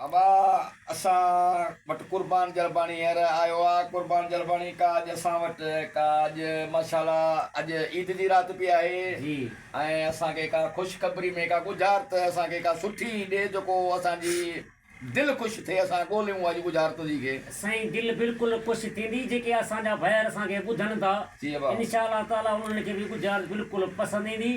ابا اسان وٽ قربان جلباڻي هينئر آيو آ قربان جلباڻي ڪا اڄ اسان وٽ ڪا اڄ ماشاءالله اڄ عيد جي رات پي آهي ۽ اسان کي ڪا خوشخبري ۾ ڪا ڳجهارت اسان کي ڪا سٺي ڏي جيڪو اسان جي دل خوش ٿئي اسان ڳوليون اڄ ڳجهارت تنهنجي کي. سائين دل بلڪل خوش ٿيندي جيڪي اسان جا ڀائر اسان کي ٻڌن ٿا انشاء الله تعالٰي انهن کي به ڳجهارت بلڪل پسند ايندي.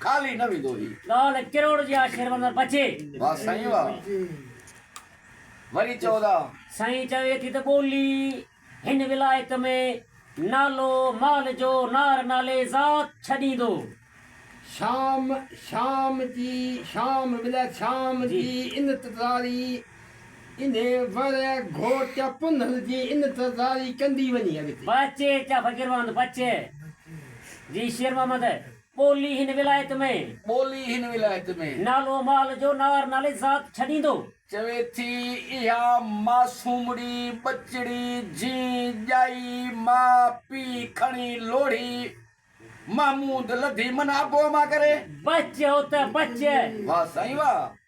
خالي نه ويندو هي. ڳالهه ڪروڙ جي آ شير وندر بچي. واه سائين واه وري چئو ٿا. سائين چوي ٿي ته ٻولي هن ولايت ۾ نالو مال جو نار نالي ذات ڇڏيندو. شام شام جي شام ولايت شام جي انتظاري انهي ور گهوٽ پنهل جي انتظاري ڪندي وڃي اڳتي. بچي چا فقير واند بچي جي شير محمد. ٻولي هن ولايت ۾. ٻولي هن ولايت ۾. نالو مال جو نار نالي ذات ڇڏيندو. چوي ٿي اها معصومڙي ٻچڙي جين ڄائي ماء پيء کڻي لوڙهي محمود لڌي من ابو امان ڪري. بچ هو ته بچ. واهه سائين واهه.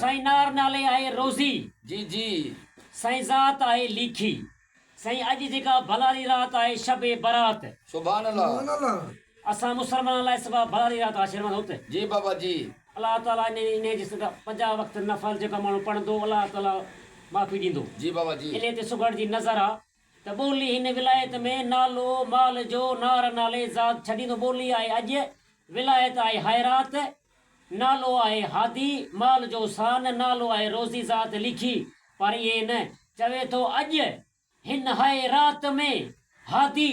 سائين نار نالي آهي روزي جي جي. سائين ذات آهي ليکي. سائين اڄ جيڪا ڀلاري رات آهي شب برات. سبحان الله. اسان مسلمانن لاء سوا ڀلاري رات آهي شيروان هوت. جي بابا جي. الله تعالي انهي انهي جي صدقه پنجاهه وقت نفل جيڪو ماڻهو پڙهندو الله تعالي معافي ڏيندو. جي بابا جي. انهي تي سگهڙ جي نظر آ. ته ٻولي هن ولايت ۾ نالو مال جو نار نالي ذات ڇڏيندو ٻولي آهي اڄ ولايت آهي حيرات نالو آهي هادي مال جو سان نالو آهي روزي ذات ليکي پر ائين نه چوي ٿو اڄ هن حيرات ۾ هادي